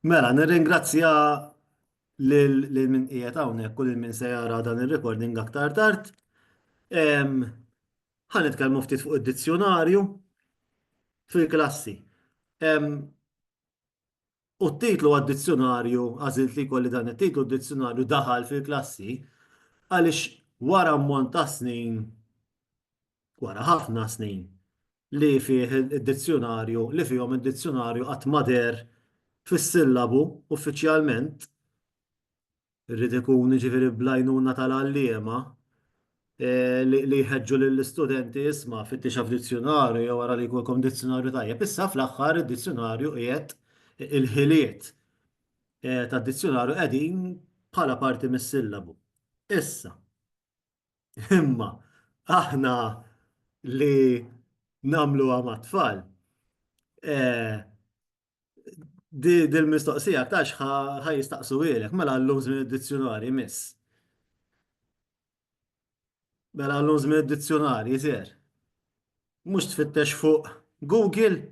Mela, nirringrazzja lil min qiegħed hawnhekk u lil min se jara dan ir-recording aktar tard. Ħa nitkellmu ftit fuq id-dizzjunarju fil-klassi. U t-titlu għad-dizzjunarju, għażilt li jkolli dan it-titlu, d-dizzjunarju daħal fil-klassi għaliex wara ammont ta' snin wara ħafna snin, li fih id-dizzjunarju, li fihom id-dizzjunarju qatt ma deher fis-sillabu uffiċjalment, irid ikun jiġifieri bl-għajnuna tal-għalliema li jħeġġu lill-istudenti isma' fittixha f'dizzjunarju jew ara li jkollkom dizzjunarju tajjeb. Issa fl-aħħar id-dizzjunarju qiegħed il-ħiliet tad-dizzjunarju qegħdin bħala parti mis-sillabu. Issa. Imma aħna li namlu għama tfal, eh, di dil-mistoqsija tax ħaj jistaqsu għilek, mela l-lum zmin id-dizzjonari miss. Mela l-lum zmin id-dizzjonari jizir. Mux tfittex fuq Google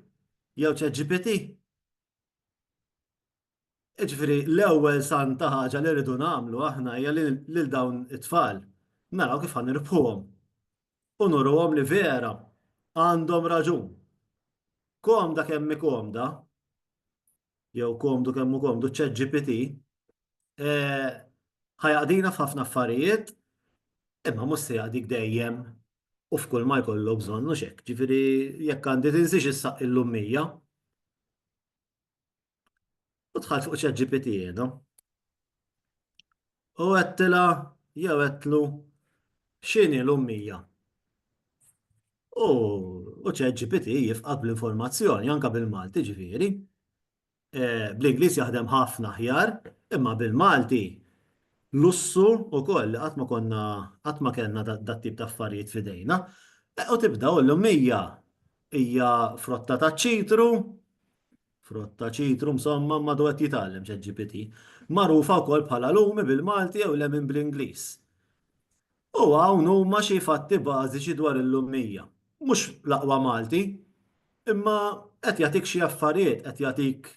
jew ċeġipiti? Jiġifieri l-ewwel santa ħaġa li rridu nagħmlu aħna hija li lil dawn it-tfal naraw kif ħa nirbħuhom u nuruhom li vera għandhom raġun. Komda kemm hi komda, jew komdu kemm hu komdu ċ-ChatGPT, ħa jaqdina f'ħafna affarijiet, imma mhux se jaqdik dejjem u f'kull ma jkollu bżonn mhux hekk. Jiġifieri jekk għandi tinsiex issaqq il-lummija. U dħalt fuq ChatGPT jiena. U għettila jew għettlu xini l-ummija. U ChatGPT jifqab l-informazzjoni anka bil-Malti ġifieri. E, Bl-Ingliż jaħdem ħafna ħjar, imma bil-Malti lussu u koll li għatma konna għatma kellna dat tip ta' affarijiet fidejna. E, u tibda u l-ummija hija frotta ta' ċitru, Frott ta' ċitru msommam madu qed jitgħallem ChatGPT, magħrufa wkoll bħala lumi bil-Malti jew lemon bl-Ingliż. U hawn huma xi fatti bażiċi dwar il-lummija. Mhux l-aqwa Malti, imma qed jagħtik xi affarijiet, qed jagħtik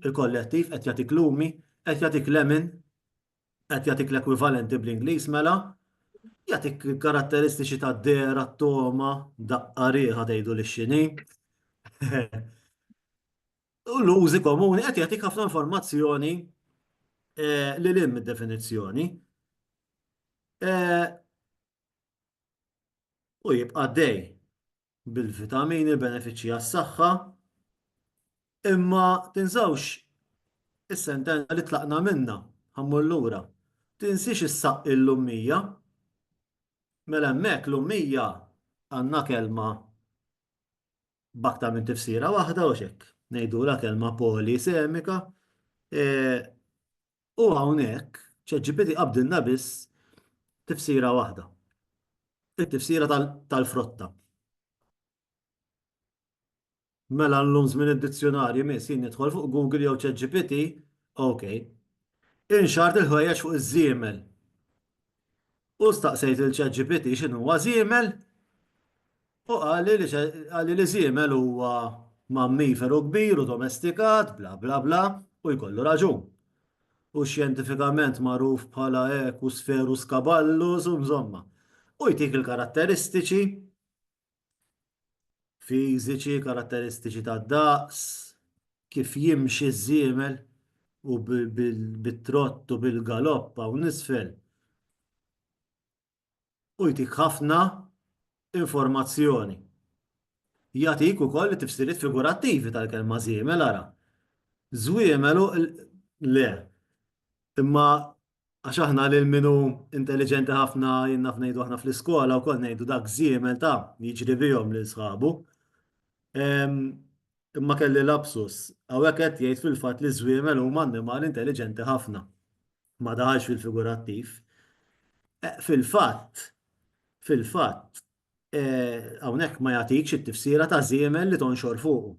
il-kollettiv, qed jagħtik lumi, qed jagħtik lemon, qed jagħtik l-ekwivalenti bl-Ingliż mela, jagħtik il-karatteristiċi tad-dehra, t-togħma, daqqa riħa tgħidu li x'inhi. U l-użi komuni qed jagħtik ħafna informazzjoni eh, li lim id-definizzjoni. Eh, u jibqa' dej. bil-vitamini, benefiċċji għas-saħħa, imma tinżawx is-sentenza li tlaqna minnha, ħammur lura. Tinsiex issaqqi l-ummija. Mela hemmhekk l-ummija għandna kelma b'aktar minn tifsira waħda u x'hekk. Ngħidulha kelma polisemika, e, U hawnhekk, ChatGPT qabdilna biss tifsira waħda, it-tifsira tal-frotta. Mela llum żmien id-dizzjunarji miss jien nidħol fuq Google jew ChatGPT, ok. Inxart il-ħwejjeġ fuq iż-żiemel. U staqsejt lil ChatGPT x'inhuwa żiemel? U qali li qali li żiemel huwa mammiferu kbir u domestikat, bla bla bla, u jkollu raġun. Hu xjentifikament magħruf bħala Equspherus caballus u mżomma. U jtik il-karatteristiċi fiżiċi, karatteristiċi tad-daqs, kif jimxi ż-żiemel u bit-trott u bil-galopp hawn isfel. u jtik ħafna informazzjoni. Jagħtik ukoll it-tifsiriet figurattivi tal-kelma żiemel ara. Żwiemel u le. Imma għax aħna lil min hu intelliġenti ħafna jien naf ngħidu aħna fl-iskola wkoll ngħidu dak żiemel ta' jiġri bihom lil sħabu. Imma kelli lapsus, hawnhekk qed jgħid fil-fatt li ż-żwiemel huma annimali intelliġenti ħafna. ma daħalx fil-figurattiv. Fil-fatt, fil-fatt, hawnhekk ma jagħtikx it-tifsira ta' żiemel li tonxor fuqu.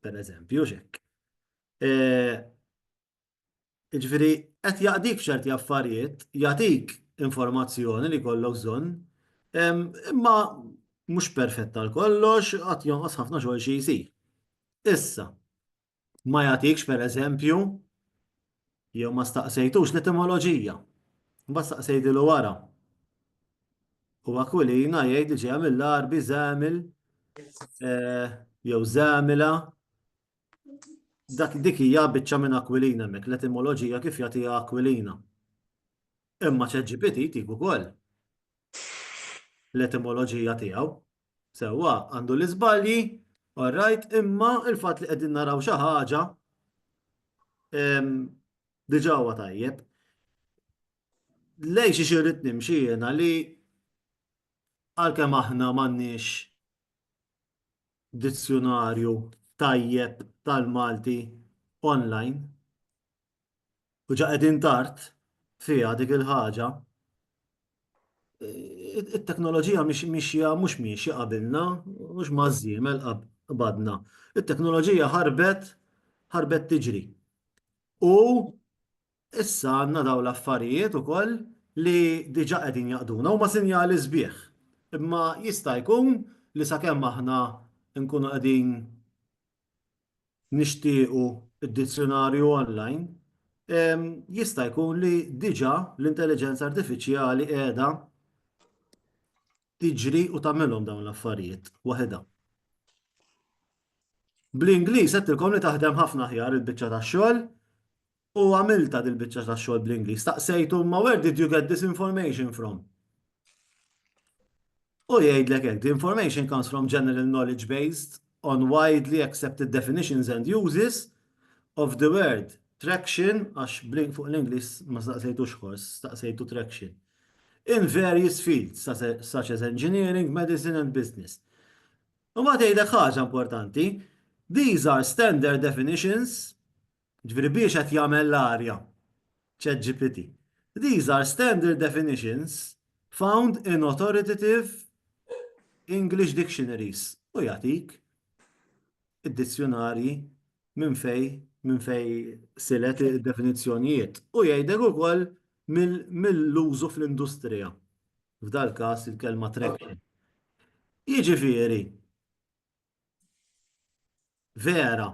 Per eżempju, x'hekk. Jiġifieri qed jaqdik f'ċerti affarijiet, jagħtik informazzjoni li jkollok bżonn, imma mhux perfett għal kollox, għad jonqos ħafna xogħol xi jsir. Issa, ma jagħtikx pereżempju jew ma staqsejtux l-etimoloġija. Mbagħad staqsejtilu wara. U Akulina jgħid li ġejja mill-Arbi żamil eh, jew żamila dak dik hija biċċa minn Aquilina mek l-etimoloġija kif jagħtiha Aquilina. Imma ċeġġipiti jtik ukoll l-etimoloġija tiegħu Sewwa, għandu l-iżbalji, all right, imma il-fatt li qegħdin naraw xi ħaġa diġà huwa tajjeb. Lej xi xirrid nimxi jiena li għalkemm aħna m'għandniex dizzjunarju tajjeb tal-Malti online, u ġa qegħdin tard fiha dik il-ħaġa, it-teknoloġija mhix mixja mhux miexja qabilna, mhux maż-żiemel qabadna. It-teknoloġija ħarbet ħarbet tiġri. U issa għandna dawn l-affarijiet ukoll li diġà qegħdin jaqduna huma sinjali sbieħ. Imma jista' jkun li sakemm aħna nkunu qegħdin nixtiequ d-dizzjunarju online, jista' jkun li diġà l-intelliġenza artifiċjali qiegħda tiġri u tagħmilhom dawn l-affarijiet waħedha. Bl-Ingliż għedtilkom li taħdem ħafna aħjar il-biċċa tax-xogħol, U għamiltha dil-biċċa tax-xogħol bl-Ingliż. Staqsejtu imma where did you get this information from? U jgħidlek hekk, the information comes from general knowledge based on widely accepted definitions and uses of the word traction, għax blink fuq l-Inglis ma staqsejtu xħors, staqsejtu traction, in various fields, such as engineering, medicine and business. U ma tgħidek ħaġa importanti, these are standard definitions Jiġifieri biex qed jagħmel l-arja ChatGPT. These are standard definitions found in authoritative English dictionaries. U jagħtik id-dizzjunarji minn fejn minn fejn silet id-definizzjonijiet. U jgħidlek ukoll mill-użu fl-industrija. F'dal-każ il-kelma traction. Jiġifieri vera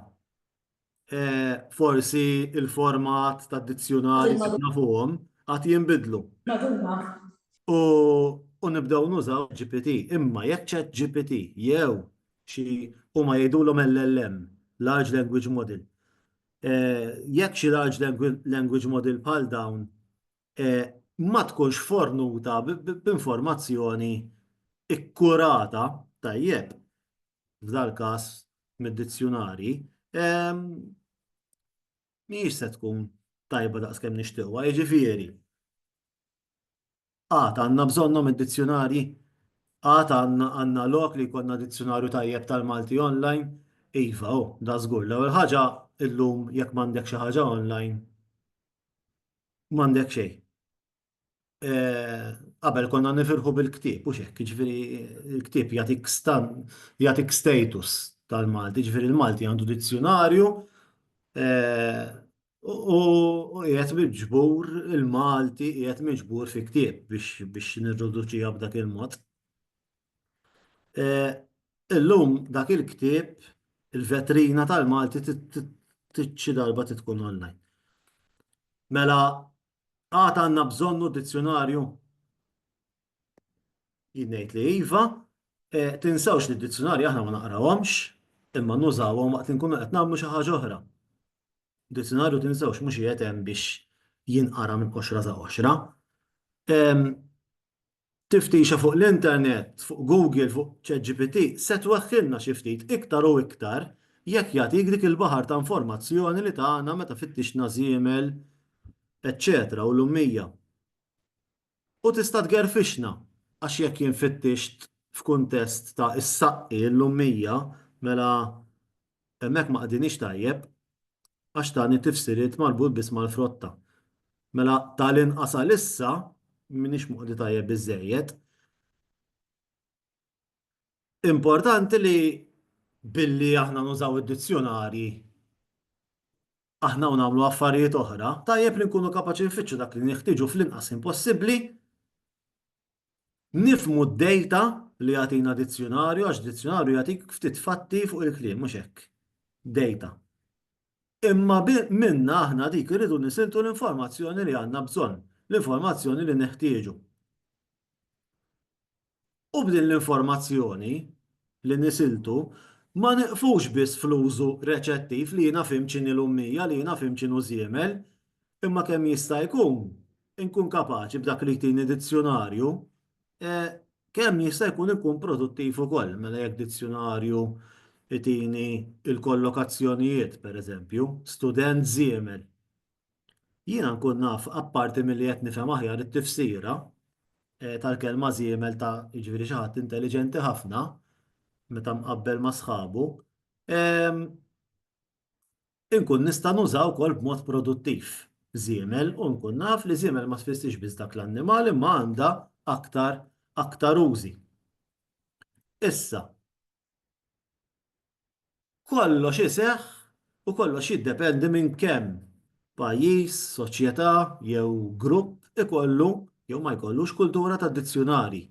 forsi il-format ta' dizzjunari li nafuhom għad jinbidlu. U nibdew nużaw GPT. Imma jekk ċat GPT jew xi huma jgħidulhom LLM, Large Language Model, jekk xi Large Language Model bħal dawn ma tkunx fornuta b'informazzjoni kkurata tajjeb, f'dal-każ mid-dizzjunarji, mhijiex se tkun tajba daqskemm nixtieqwa, jiġifieri. Għad għandna bżonnhom id-dizzjunarji, għad għandna lok li jkollna dizzjunarju tajjeb tal-Malti online, iva, oh, da żgur. L-ewwel ħaġa illum jekk m'għandek xi ħaġa online, m'għandek xejn. qabel konna nifirħu bil-ktieb u x'hekk, jiġifieri l-ktieb jagħtik stan jagħtik status tal-Malti, jiġifieri l-Malti għandu dizzjunarju u qiegħed miġbur il-Malti qiegħed miġbur fi ktieb biex biex nirriduċiha b'dak il-mod. Illum dak il-ktieb il-vetrina tal-Malti xi darba tkun online. Mela Għad għandna bżonnu dizzjunarju? Jien ngħid li iva, e, tinsewx li d-dizzjunarji aħna ma naqrawhomx, imma nużawhom waqt li nkunu qed nagħmlu xi ħaġa oħra. Dizzjunarju tinsewx mhux qiegħed hemm biex jinqara minn qoxra sa qoxra. Tiftixa fuq l-internet, fuq Google, fuq ChatGPT, se tweħħilna xi ftit iktar u iktar jekk jagħtik dik il-baħar ta' informazzjoni li tana meta fittixna żiemel, eċċetera u l-ummija. U tista' tgerfixna, għax jekk jien fittixt f'kuntest ta' is-saqqi, l-ummija, mela Hemmhekk ma qdiniex tajjeb għax tani tifsiriet marbut biss mal-frotta. Mela ta' l-inqas għalissa m'iniex moqdi tajjeb biżżejjed. Importanti li billi aħna nużaw id-dizzjunarji aħna u nagħmlu affarijiet oħra, tajjeb li nkunu kapaċi nfittxu dak li neħtieġu fl-inqas ħin possibbli Nifhmu d-dejta li jagħtina dizzjunarju għax dizzjunarju jagħtik ftit fatti fuq il-kliem, mhux hekk. Dejta. Imma minnha aħna dik irridu nisiltu l-informazzjoni li għandna bżonn, l-informazzjoni li neħtieġu. U b'din l-informazzjoni li nisiltu, ma nieqfux biss fl-użu reċettiv li jiena fhimt x'inhi l-ummija, li jiena fhimt x'inhu żiemel, imma kemm jista' jkun inkun kapaċi b'dak li jtini dizzjunarju, kemm jista' jkun inkun produttiv ukoll, mela jekk dizzjunarju jtini l-kollokazzjonijiet, pereżempju, student żiemel, Jiena nkun naf, apparti milli qed nifhem aħjar it-tifsira tal-kelma żiemel ta' jiġifieri xi ħadd intelliġenti ħafna meta mqabbel ma' sħabu, inkun nista' nuża wkoll b'mod produttiv żiemel u nkun naf li żiemel ma tfissirx biss dak l-annimal imma għandha aktar użi. Issa, Kollox iseħħ u kollox jiddependi minn kemm pajjiż, soċjetà jew grupp ikollu jew ma jkollux kultura ta' dizzjunarji.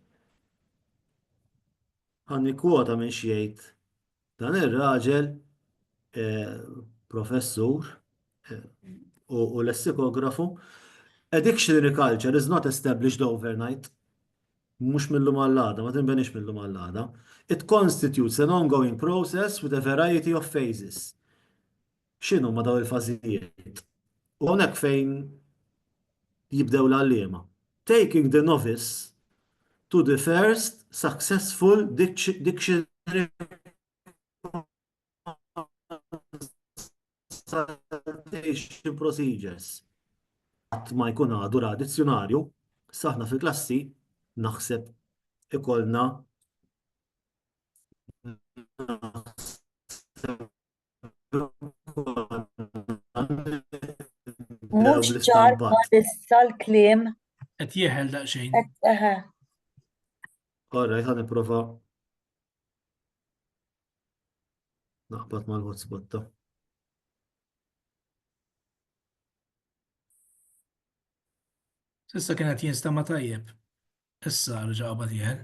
Ħa nikkwota minn x'jgħid dan ir-raġel professur u lessikografu, A dictionary culture is not established overnight. mhux mil-lum għall-għada, ma tinbenix mil-lum għall-għada, it constitutes an ongoing process with a variety of phases. X'inhuma dawn il-fażijiet? U hawnhekk fejn jibdew l-għalliema. Taking the novice to the first successful dictionary consultation procedures. Qatt ma jkun għadu ra dizzjonarju, saħna fil-klassi naħseb ikollna Mux ċar ma nissa l-klim. Et jieħel daqxejn. All right, għan prova Naqbad mal-hotspot ta'. Issa kien qed jinstema' tajjeb. Issa rġa' qabad jieħel.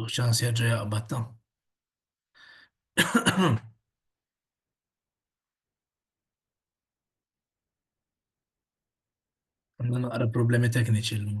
U ċans jaġġa jaqbad ta'. Għanna naqra problemi tekniċi l-lum.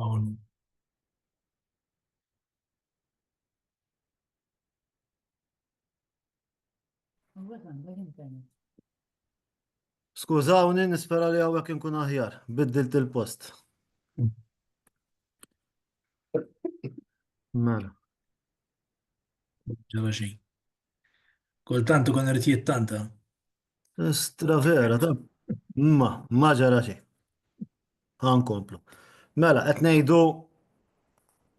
Hawn. Skużawni, nispera li hawnhekk inkun aħjar, biddilt il-post. Mela. Ġara xejn. Kultant ikun irid jittanta. Estra vera, ta' ma, ma ġara xejn. Għankomplu. Mela, qed ngħidu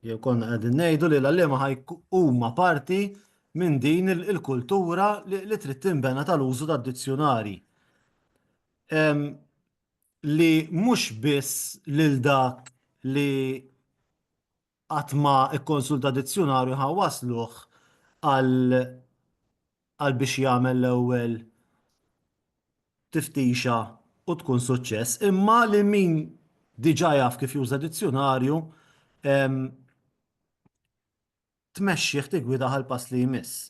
jew konna qegħdin ngħidu li l-għalliema ħajk huma parti minn din il-kultura li trid tinbena tal-użu tad-dizzjonari. Li mhux biss lil dak li qatt ma kkonsulta dizzjunarju ħa wassluh għal għal biex jagħmel l-ewwel tiftixa u tkun suċċess, imma li min diġà jaf kif juża dizzjunarju tmexxih tiggwidah għall-pass li jmiss.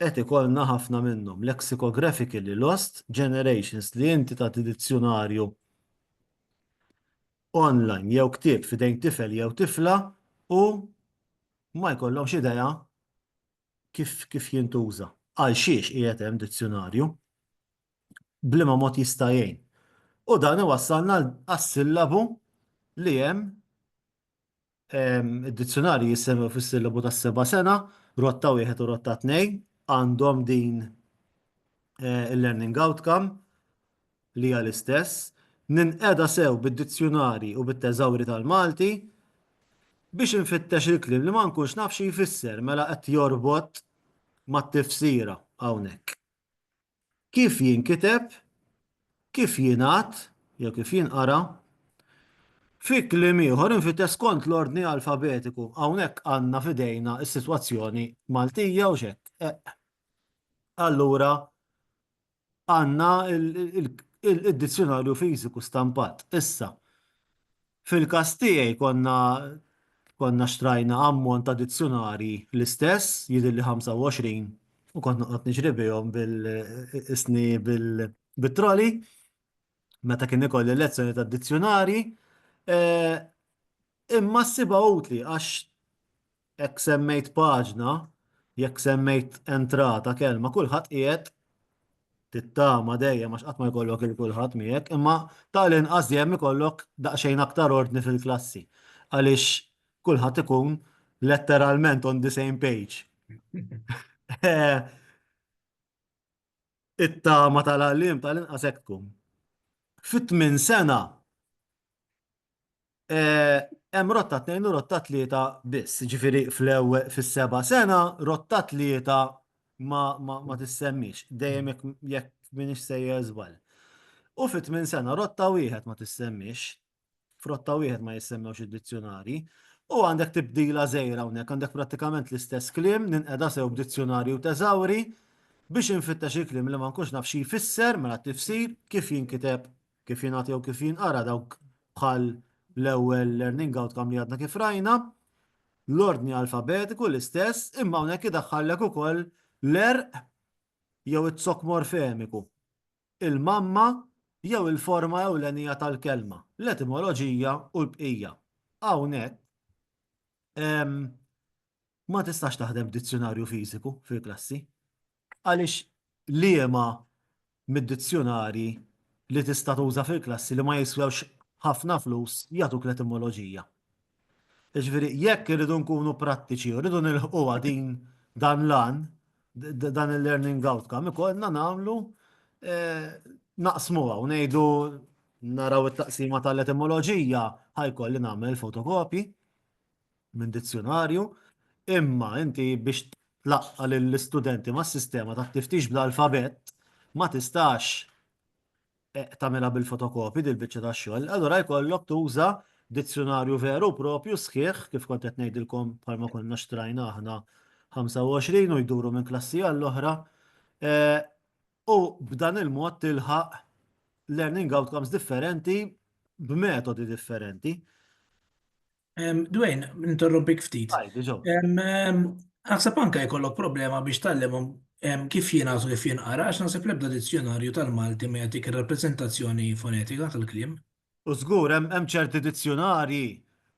Qed ikollna ħafna minnhom, lexicographically lost generations, li inti tagħti dizzjunarju online jew ktieb f'idejn tifel jew tifla u ma jkollhomx idea kif, kif jintuża. Għal xiex qiegħed hemm dizzjunarju? Bliema mod jista' jgħin? U dan iwassalna għas-sillabu li hemm Id-dizzjunarji jissemmew fis-sillabu tas-seba' sena, rotta wieħed u rotta tnejn, għandhom din il-learning outcome li hija l-istess, ninqeda sew bid-dizzjunarji u bit-teżawri tal-Malti biex infittex il-kliem li ma nkunx naf xi jfisser, mela qed jorbot mat-tifsira hawnhekk. Kif jinkiteb, kif jingħad jew kif jinqara? Fi kliem ieħor, infittex skont l-ordni alfabetiku. Hawnhekk għandna f'idejna s-sitwazzjoni Maltija, hux hekk? Eqq. Allura għandna d-dizzjunarju fiżiku stampat. Issa, Fil-każ tiegħi konna konna xtrajna ammont ta' dizzjunarji l-istess, jidhirli 25, u kont noqgħod niġri bihom bil-isni bit-troli meta kien ikolli lezzjoni ta' dizzjunarji. Imma ssibha utli għax Jekk semmejt paġna, jekk semmejt entrata, kelma, kulħadd qiegħed tittama dejjem għax qatt ma jkollok il kulħadd miegħek, imma ta' l-inqas dejjem ikollok daqsxejn aktar ordni fil-klassi għaliex kulħadd ikun letteralment on the same page. It-tama tal-għalliem ta' l-inqas hekk tkun. Fit-tmien sena hemm rotta tnejn u rotta tlieta biss, ġifieri fl-ewwel fis-seba' sena rotta tlieta ma, ma, ma tissemmix, dejjem jekk minix sejjer żball. U fit tmien sena rotta wieħed ma tissemmix, f'rotta wieħed ma jissemmewx id-dizzjonari, u għandek tibdila żejra hawnhekk, għandek prattikament l-istess kliem, ninqeda sew b'dizzjonarju teżawri, biex infittex il-kliem li ma nkunx naf xi jfisser mela t-tifsir, kif jinkiteb kif jingħad jew kif jinqara dawk bħal l-ewwel learning outcome li għadna kif rajna, l-ordni alfabetiku l-istess imma hawnhekk idaħħallek ukoll l-għerq jew iz-zokk morfemiku, il-mamma jew il-forma ewlenija tal-kelma, l-etimoloġija u l-bqija. Hawnhekk ma tistax taħdem b'dizzjunarju fiżiku fil-klassi għaliex liema mid-dizzjunarji li tista' tuża fil-klassi li ma jiswewx ħafna flus jagħtuk l-etimoloġija. Jiġifieri jekk irridu nkunu prattiċi u rridu nilħquha din dan l-għan, dan il-learning outcome, ikollna nagħmlu eh, naqsmuha u ngħidu naraw it-taqsima tal-etimoloġija ħajkolli nagħmel fotokopji minn dizzjunarju, imma inti biex tlaqqa' lill-istudenti mas-sistema tat-tiftix bl-alfabett ma tistax tagħmilha bil-fotokopji dil-biċċa ta' xogħol, allura jkollok tuża dizzjunarju veru u proprju sħiħ, kif kont qed ngħidilkom bħalma konna xtrajna aħna 25 u jduru minn klassi għall-oħra, u b'dan il-mod tilħaq learning outcomes differenti b'metodi differenti. Dwayne, ninterrompik ftit. Naħseb anke jkollok problema biex tallimhom kif jingħażu kif jinqara għax naħseb l-ebda dizzjonarju tal-Malti ma jagħtik ir-rappreżentazzjoni fonetika tal-kliem. U żgur hemm ċerti dizzjonarji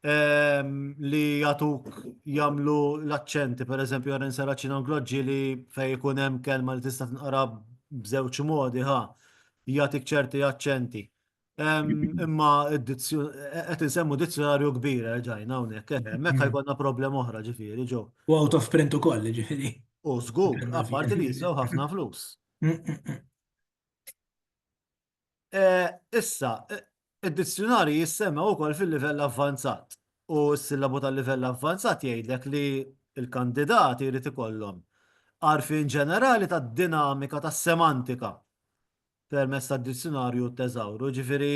li jagħtuk jagħmlu l-aċċenti, pereżempju għara nseraċin angloġġi li fejn ikun hemm kelma li tista' tinqara b'żewġ modi ħa jagħtik ċerti aċċenti. Imma qed insemmu dizzjonarju kbir ġajna hawnhekk, hemmhekk ħajkonna problema oħra ġifieri ġo. U out of print ukoll ġifieri. U żgur, apparti li jiżgħu ħafna flus. Issa, id-dizzjonarji jissemmew ukoll fil-livell avvanzat. U s-sillabu tal-livell avvanzat jgħidlek li l-kandidati jrid ikollhom għarfien ġenerali tad-dinamika tas-semantika permezz tad-Dizzjunarju Thesauro, jiġifieri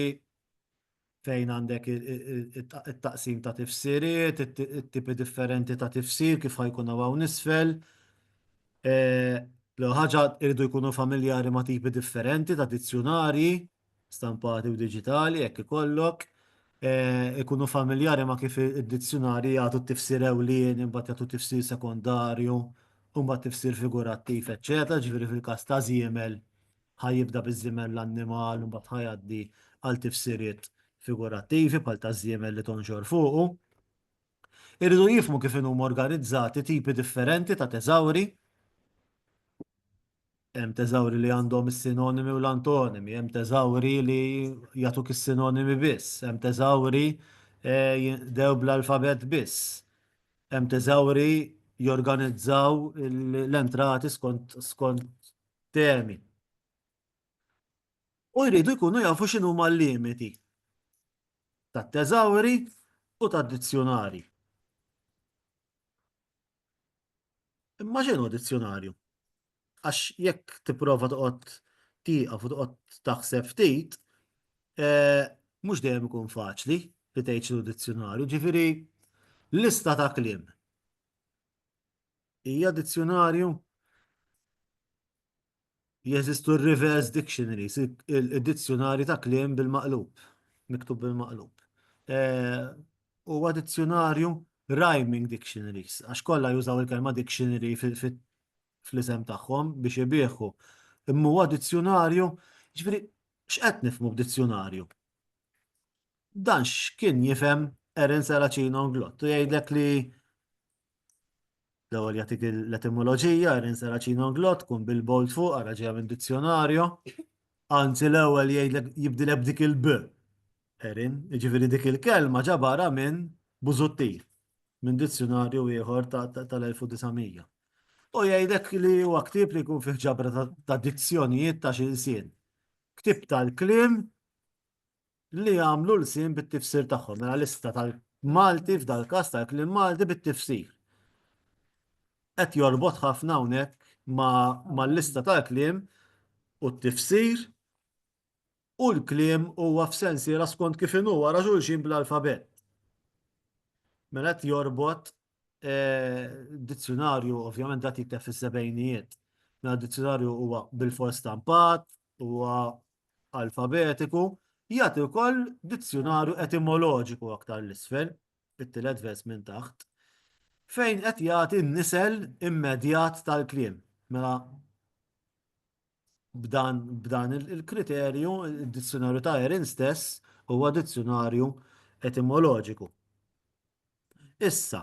fejn għandek it-taqsim ta' tifsiriet, it-tipi differenti ta' tifsir kif ħajkun hawn isfel. L-ewwel ħaġa jridu jkunu familjari ma' tipi differenti ta' dizzjunarji, stampati u diġitali jekk ikollok, ikunu familjari ma' kif id-dizzjunarji jagħtu t-tifsir ewlieni, imbagħad jagħtu tifsir sekondarju, u mbagħad tifsir figurattiv, eċċetera, jiġifieri fil-każ ta' żiemel ħa jibda biż-żiemel l-annimal u mbagħad ħa jgħaddi għal tifsiriet figurattivi bħal taż-żiemel li tonxor fuqu. Irridu jifhmu kif inhuma organizzati tipi differenti ta' teżawri. Hemm teżawri li għandhom is-sinonimi u l-antonimi, hemm teżawri li jagħtuk is-sinonimi biss, hemm teżawri eh, jinqdew bl-alfabet biss, hemm teżawri jorganizzaw l-entrati skont temi. U jridu jkunu jafu x'inhuma l-limiti tat-teżawri u tad-dizzjunarji. Imma x'inhu dizzjunarju? Għax jekk tipprova toqgħod tieqaf u toqgħod taħseb ftit, eh, mhux dejjem ikun faċli li tgħid x'inhu dizzjunarju, ġifieri lista ta' kliem. Hija dizzjonarju? Jeżistu reverse dictionaries, id-dizzjonari ta' kliem bil-maqlub, miktub bil-maqlub. Eh, huwa dizzjonarju rhyming dictionaries, għax kollha jużaw il-kelma dictionary fl-isem tagħhom biex ibieħu. Imma huwa dizzjonarju, ġifieri x'qed nifhmu b'dizzjonarju? Dan x'kien jifhem Erin Saracino Glott u jgħidlek li L-ewwel jagħtik l-etimoloġija, Irin Seraċin Onglot, tkun bil-bold fuq, ara ġejja minn dizzjonarju. Anzi l-ewwel jgħidlek jibdilek b'dik il-b. Erin, jiġifieri dik il-kelma ġabarha minn Busuttil, minn dizzjonarju ieħor tal-1900. U jgħidlek li huwa ktieb li jkun fih ġabra ta' dizzjonijiet ta' xilsien. Ktieb tal-kliem li jagħmlu l-kliem bit-tifsir tagħhom, mela lista tal-Malti f'dal-każ tal-kliem Malti bit-tifsir. Qed jorbot ħafna hawnhekk mal-lista tal-kliem u t-tifsir u l-kliem huwa f'sensiela skont kif inhu wara xulxin bl-alfabett. Mela qed jorbot dizzjunarju, ovvjament dat jikteb fis-sebgħinijiet, mela dizzjunarju huwa bil-fors stampat, huwa alfabetiku, jagħti wkoll dizzjunarju etimoloġiku aktar 'l isfel, it-tielet vers minn taħt, fejn qed jagħti n-nisel immedjat tal-kliem. Mela b'dan, b'dan il-kriterju, id-dizzjunarju ta' Erin stess huwa dizzjunarju etimoloġiku. Issa,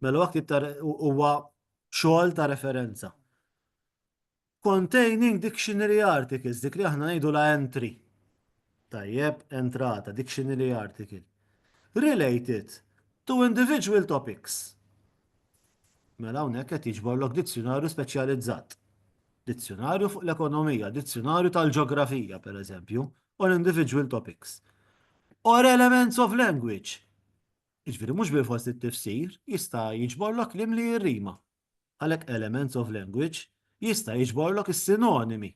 Mela huwa ktib ta' huwa xogħol ta' referenza. Containing dictionary articles, dik li aħna ngħidu la entry. Tajjeb, entrata, dictionary article. Related to individual topics. Mela hawnhekk qed jiġborlok dizzjonarju speċjalizzat. Dizzjonarju fuq l-ekonomija, dizzjonarju tal-ġeografija pereżempju, on individual topics. Or elements of language jiġifieri mhux bilfors li t-tifsir jista' jiġborlok kliem li jirrima. Għalhekk elements of language jista' jiġborlok is-sinonimi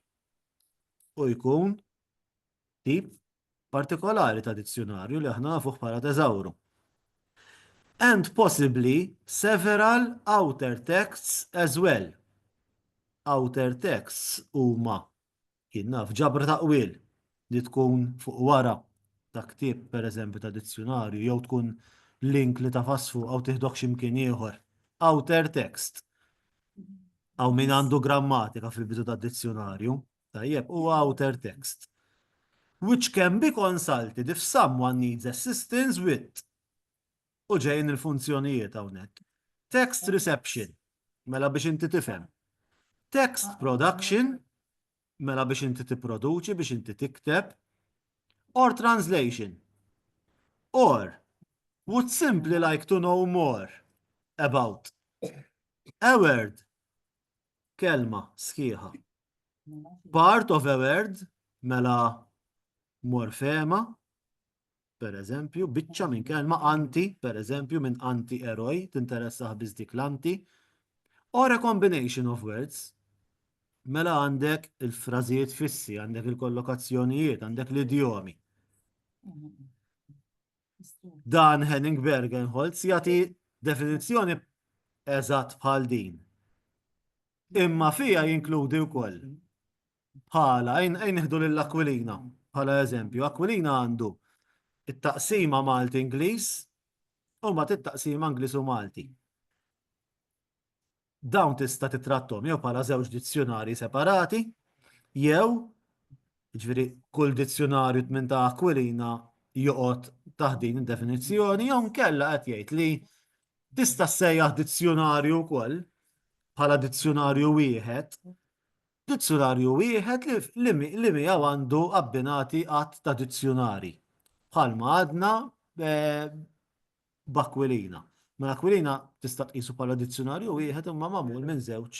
u jkun tip partikolari ta' dizzjunarju li aħna nafuh bħala teżawru. And possibly several outer texts as well. Outer texts huma Jien naf ġabra ta' qwiel li tkun fuq wara ta' ktieb pereżempju ta' dizzjunarju jew tkun link li tagħfas fuqha u tieħdok xi mkien ieħor. Outer text. Hawn min għandu grammatika fil-bidu tad-dizzjunarju, tajjeb, huwa outer text. Which can be consulted if someone needs assistance with. U ġejjin il-funzjonijiet hawnhekk. Text reception, mela biex inti tifhem. Text production, mela biex inti tipproduċi, biex inti tikteb. Or translation. Or, would simply like to know more about. A word, kelma sħiħa. Part of a word, mela morfema, per eżempju, biċċa minn kelma anti, per eżempju, minn anti eroj, tinteressa biss dik l-anti, or a combination of words, mela għandek il-frażijiet fissi, għandek il-kollokazzjonijiet, għandek l-idjomi. Dan Henning Bergenholz jagħti definizzjoni eżatt bħal din. Imma fija jinkludi wkoll bħala, ejn nieħdu lil Aquilina bħala eżempju. Aquilina għandu it-taqsima Malti Ingliż u ma it-taqsima Ingliż u Malti. Dawn tista' titrattom jew bħala żewġ dizzjonari separati jew ġifieri kull dizzjonarju tmien ta' Aquilina joqgħod taħt din id-definizzjoni jew nkella qed jgħid li tista' sejjaħ dizzjonarju wkoll bħala dizzjonarju wieħed Dizzjunarju wieħed li miegħu għandu abbinati għadd ta' dizzjunarji, bħalma għadna b'Akwilina. Mela Akwilina tista' tqisu bħala dizzjunarju wieħed imma magħmul minn żewġ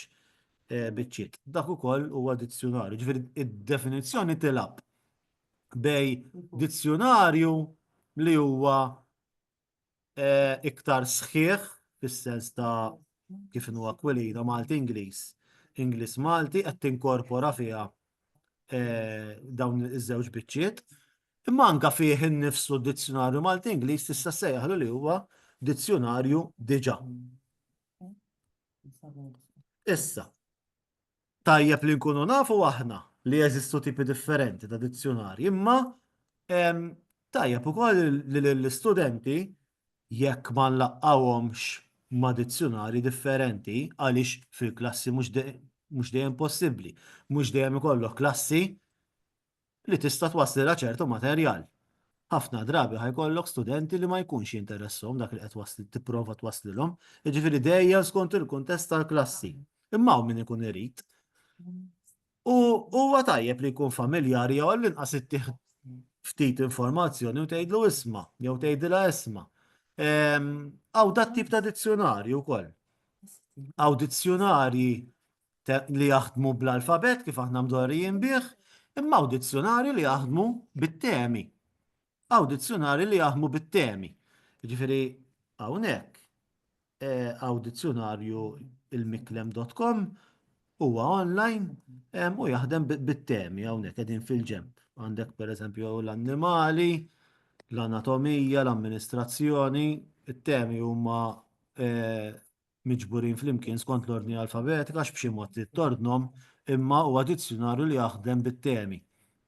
biċċiet. Dak ukoll huwa dizzjunarju, jiġifieri d-definizzjoni tilgħab bejn dizzjunarju li huwa iktar sħiħ fis-sens ta' kif inhu Aquilina Malti-Ingliż, Ingliż-Malti qed tinkorpora fiha dawn iż-żewġ biċċiet. Imma anke fih innifsu d-dizzjunarju Malti-Ingliż tista' ssejjaħlu li huwa dizzjunarju diġà. Issa, Tajjeb li nkunu nafu aħna li jeżistu tipi differenti ta' dizzjunarji, imma tajjeb ukoll li l-istudenti jekk ma nlaqqawhomx ma' dizzjunarji differenti għaliex fil-klassi mhux dejjem possibbli. Mhux dejjem ikollok klassi li tista' twasslilha ċertu materjal. Ħafna drabi ħa jkollok studenti li ma jkunx jinteresshom dak li qed tipprova twasslilhom, jiġifieri dejjem skont il-kuntest tal-klassi. Imma hawn min ikun irid. U huwa tajjeb li jkun familjari jew għall-inqas ittieħ ftit informazzjoni u tgħidlu isma' jew tgħidilha isma'. Hawn dat tip ta' dizzjunarju wkoll. Hawn dizzjunarji li jaħdmu bl-alfabet kif aħna mdorrijin bih, imma hawn dizzjonari li jaħdmu bit-temi. Hawn dizzjonari li jaħdmu bit-temi. Ġifieri hawnhekk hawn eh, dizzjonarju il-miklem.com huwa online u jaħdem bit-temi hawnhekk qegħdin fil-ġemp. Għandek pereżempju l-annimali, l-anatomija, l-amministrazzjoni, it-temi huma eh, miġburin flimkien skont l-ordni alfabetika għax b'xi mod trid tordnhom, imma huwa dizzjunarju li jaħdem bit-temi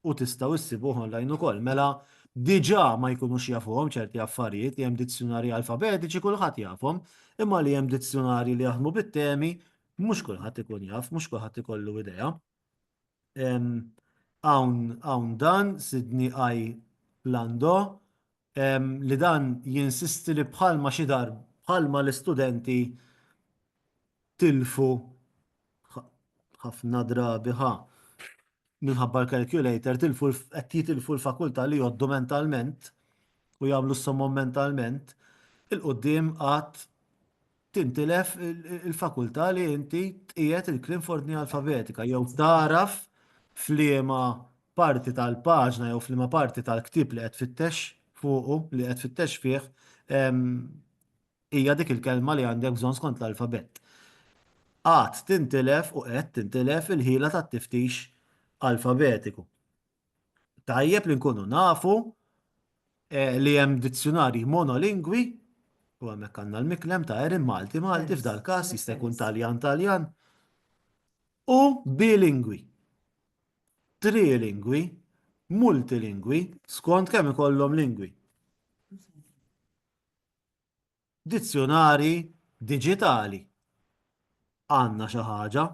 u tistgħu issibuh online ukoll. Mela diġà ma jkunux jafuhom ċerti affarijiet li hemm dizzjunarji alfabetiċi kulħadd jafhom, imma li hemm dizzjunarji li jaħdmu bit-temi mhux kulħadd ikun jaf, mhux kulħadd ikollu idea. hawn dan, Sidney I. Lando, li dan jinsisti li bħalma xi darb, bħalma l-istudenti tilfu ħafna drabi ħa minħabba l-calculator, tilfu qed jitilfu l-fakultà li jgħoddu mentalment u jagħmlu s-somom mentalment, il-quddiem għad tintilef il-fakultà li inti tqiegħed il-kliem f'ordni alfabetika jew tagħraf f'liema parti tal-paġna jew f'liema parti tal-ktieb li qed tfittex fuqu, li qed tfittex fih, hija dik il-kelma li għandek bżonn skont l-alfabett. Għad tintilef u qed tintilef il-ħila tat-tiftix alfabetiku. Tajjeb li nkunu nafu eh, li hemm dizzjonarji monolingwi u hemmhekk għandna l-miklem ta' Erin Malti Malti f'dal każ jista' jkun Taljan Taljan u bilingwi, trilingwi, multilingwi skont kemm ikollhom lingwi. Dizzjunarji diġitali. Għandna xi ħaġa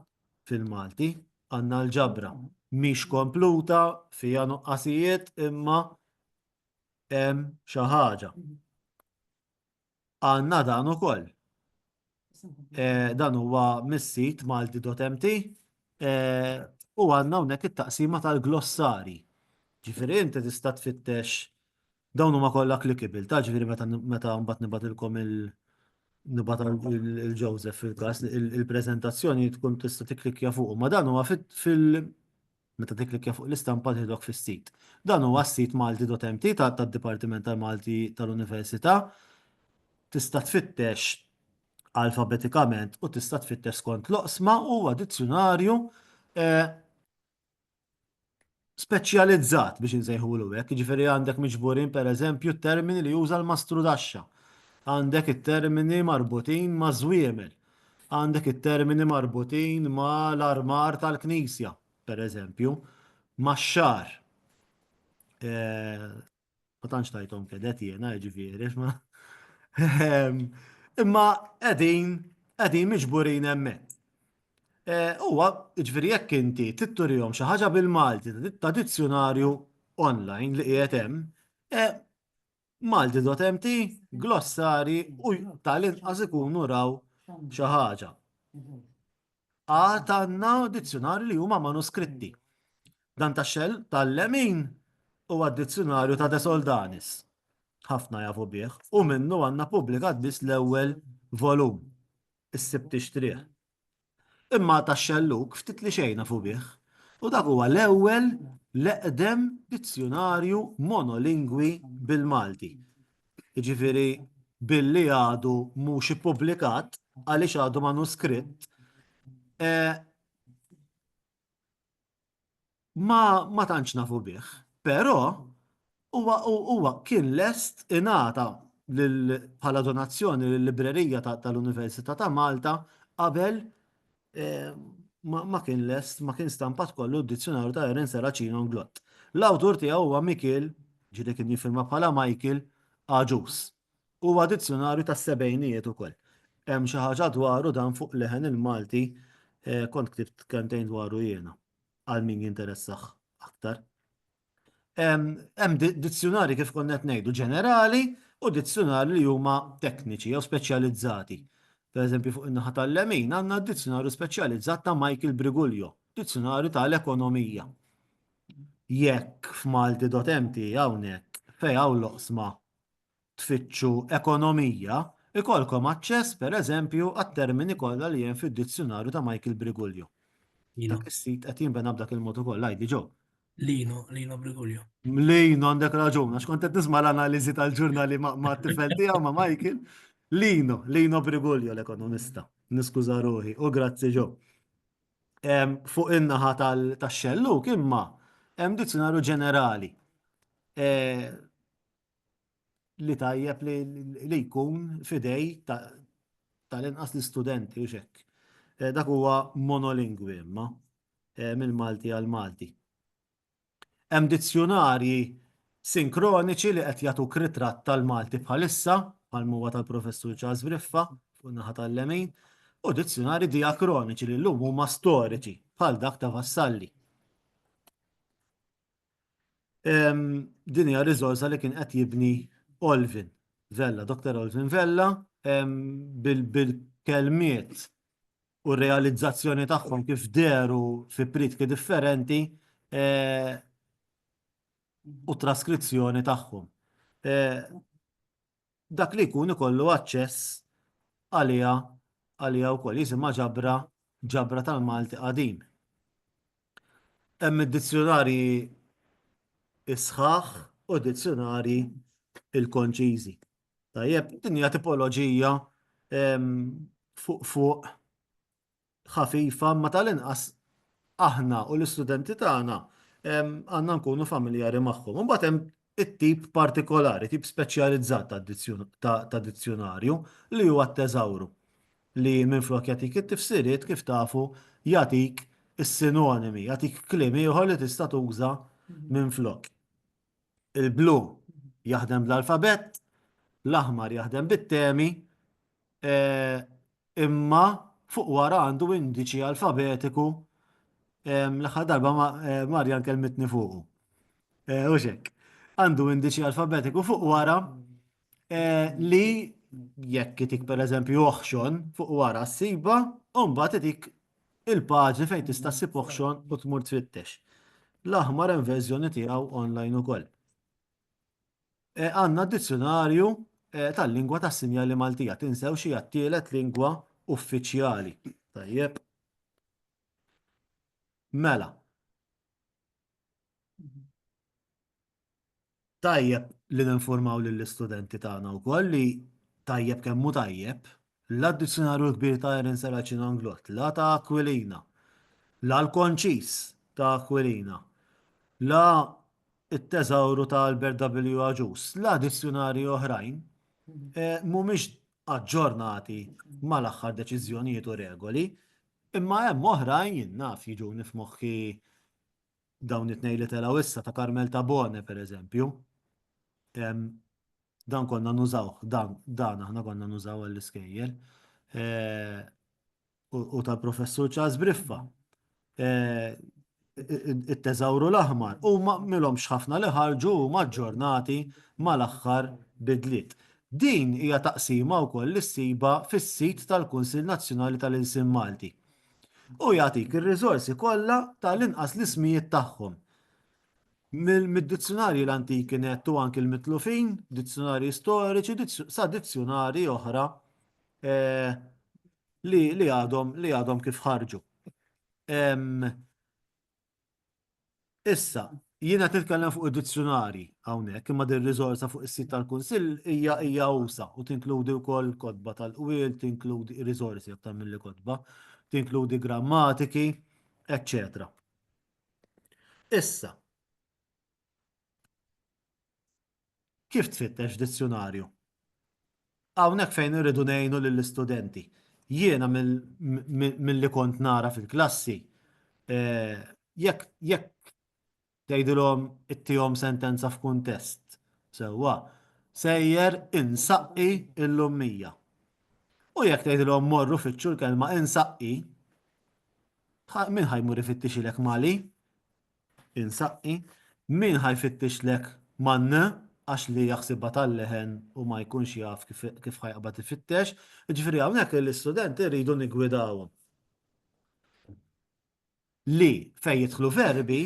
fil-Malti, għandna l-ġabra. Mhix kompluta, fiha nuqqasijiet imma hemm xi ħaġa. Għandna dan ukoll. Eh, dan huwa mis-sit malti.mt eh, u għandna hawnhekk it-taqsima tal-glossari. Ġifieri inti tista' tfittex Dawn huma kollha clickable, ta' ġifieri meta meta mbagħad nibgħatilkom il nibgħat il Joseph fil-każ il-preżentazzjoni tkun tista' tikklikkja fuq. Ma dan huwa fil meta tikklikkja fuq l-istampa tieħdok fis-sit. Dan huwa s-sit malti.mt tad-Dipartiment tal-Malti tal-Università. Tista' tfittex alfabetikament u tista' tfittex skont l-oqsma u huwa dizzjunarju speċjalizzat biex insejħulu hekk, jiġifieri għandek miġburin pereżempju t-termini li juża l-mastrudaxxa, għandek it-termini marbutin maż-żwiemel, għandek it-termini marbutin ma' l-armar tal-knisja, pereżempju, max-xagħar, Ma tantx tajthom kedet jiena jiġifieri ma. Ehm, imma qegħdin qegħdin miġburin hemmhekk. Eh, huwa jiġifieri jekk inti titturihom xi ħaġa bil-Malti ta' dizzjonarju online li qiegħed hemm, eh, Malti.mt, glossari u tal-inqas ikunu raw xi ħaġa. Għad għandna dizzjonari li huma manuskritti. Dan ta' xell tal-lemin huwa d-dizzjonarju ta' De Soldanis. Ħafna jafu bih u minnu għandna pubblikat biss l-ewwel volum, issib tixtrih. Imma ta' xelluk ftit li xejn nafu bih u dak huwa l-ewwel l-eqdem dizzjonarju monolingwi bil-Malti. jiġifieri billi għadu mhux ippubblikat għaliex għadu manuskritt, ma tantx nafu bih. Però huwa kien lest ingħata bħala donazzjoni lil-Librerija tal-Università ta' Malta qabel ma kien lest, ma kien stampat kollu d-dizzjonarju ta' Eren Seracino Nglott. L-awtur tiegħu huwa Mikil, ġiri kien jifirma bħala Michael Aġus. Huwa dizzjonarju ta' sebejnijiet ukoll. Hemm xi ħaġa dwaru dan fuq leħen il-Malti eh, kont ktibt kentejn dwaru jiena għal min jinteressax aktar. Hemm dizzjunarji kif konna qed ngħidu ġenerali u dizzjunarji li huma tekniċi jew speċjalizzati. Pereżempju fuq in-naħa tal-lemin għandna d-dizzjunarju speċjalizzat ta' Michael Briguglio, dizzjunarju tal-ekonomija. Jekk f'malti.mt hawnhekk fejn hawn l-oqsma tfittxu ekonomija, ikollkom aċċess, per eżempju, għat-termini kollha li hemm fid-Dizzjunarju ta' Michael Briguglio. Dak is-sit qed jinbena b'dak il-mod ukoll, għidi Joe. Lino, Lino Briguglio. Lino għandek raġun, għax kont qed nisma' l-analiżi tal-ġurnali ma' tifel tiegħu ma' Michael. Lino, Lino Briguglio l-ekonomista. Niskuża ruħi u grazzi Joe. Fuq in-naħa tax-xelluk imma hemm dizzjunarju ġenerali. li tajjeb li jkun fidej tal-inqas l-istudenti u xekk. Eh, dak huwa monolingwi imma eh, mill-Malti għal Malti. Hemm dizzjunarji sinkroniċi li qed jagħtu ritratt tal-Malti bħalissa bħal huwa tal-Professur Charles Briffa fuq naħa tal-lemin u dizzjunari diakroniċi li llum huma storiċi bħal dak ta' Vassalli. Din hija riżorsa li kien qed jibni Olvin Vella, Dr. Olvin Vella, bil-kelmiet u r-realizzazzjoni tagħhom kif deru fi pritki differenti u traskrizzjoni tagħhom. dak li jkun ikollu aċċess għaliha għaliha wkoll jisimha ġabra ġabra tal-Malti qadim. Hemm id-dizzjunarji s-sħaħ u d-dizzjunarji l-konċiżi. Tajjeb, din hija tipoloġija fuq fuq ħafifa, ma tal-inqas aħna u l-istudenti tagħna għandna nkunu familjari magħhom. Imbagħad hemm it-tip partikolari, tip speċjalizzat ta' dizzjunarju li huwa t-teżawru li minflok jagħtik it-tifsiriet kif tafu jagħtik is-sinonimi, jagħtik kliem ieħor li tista' tuża minflok. Il-blu jaħdem bl-alfabett, l-aħmar jaħdem bit-temi, imma fuq wara għandu indiċi alfabetiku l-aħħar darba Marjan kelmitni fuqu. U xek, għandu indiċi alfabetiku fuq wara eh, li jekk itik per eżempju oħxon fuq wara s-siba, mbagħad itik il-paġni fejn tista' ssib oħxon u tmur tfittex. L-aħmar hemm verżjoni tiegħu online ukoll. Eh, għandna dizzjonarju eh, tal-lingwa tas-sinjali Maltija tinsew xi għat-tielet lingwa uffiċjali. Tajjeb. Mela, Tajjeb li ninfurmaw lill-istudenti tagħna wkoll li tajjeb kemm hu tajjeb, la d-Dizzjonarju l-Kbir ta' Erin Serracino Anglott, la ta' Aquilina, la l-Konċis ta' Aquilina, la t-Teżawru ta' Albert W. Agius, la dizzjunarji oħrajn mhumiex aġġornati mal-aħħar deċiżjonijiet u regoli, imma hemm oħrajn, jien naf, jiġuni f'moħħi dawn it-tnejn li telgħu issa ta' Carmel Tabone pereżempju, dan konna nużawh, dan, dan aħna konna nużaw għall-iskejjel. Eh, u tal-professur Charles Briffa. Eh, it-teżawru l-aħmar u ma milhom xħafna li ħarġu ma ġġornati mal-aħħar bidliet. Din hija taqsima wkoll li ssiba fis-sit tal-Kunsill Nazzjonali tal-Ilsien Malti. u jagħtik ir-riżorsi kollha tal-inqas l-ismijiet tagħhom. Mid-dizzjunarji l-antiki net u anki l-mitlufin, dizzjunarji storiċi, sa dizzjunarji oħra eh, li għadhom li għadhom kif ħarġu. Issa, jiena qed nitkellem fuq id-dizzjunarji hawnhekk, imma din riżorsa fuq is-sit tal-Kunsill hija hija usa' u tinkludi wkoll kotba tal-qwiel, tinkludi riżorsi aktar milli kotba, tinkludi grammatiki, eċċetera. Issa, Kif tfittex f'dizzjunarju? Hawnhekk fejn irridu ngħinu lill-istudenti. Jiena milli kont nara fil-klassi, jekk tgħidilhom ittihom sentenza f'kuntest sewwa, sejjer insaqqi l-ummija. U jekk tgħidilhom morru fittxu l-kelma insaqqi, min ħa jmur ifittixilek Mali? Insaqqi, Min ħa jfittixlek man-n għax li jaħsibha tal-leħen u ma jkunx jaf kif ħa jaqbad ifittex. Jiġifieri hawnhekk lill-istudenti rridu niggwidawhom li fejn jidħlu verbi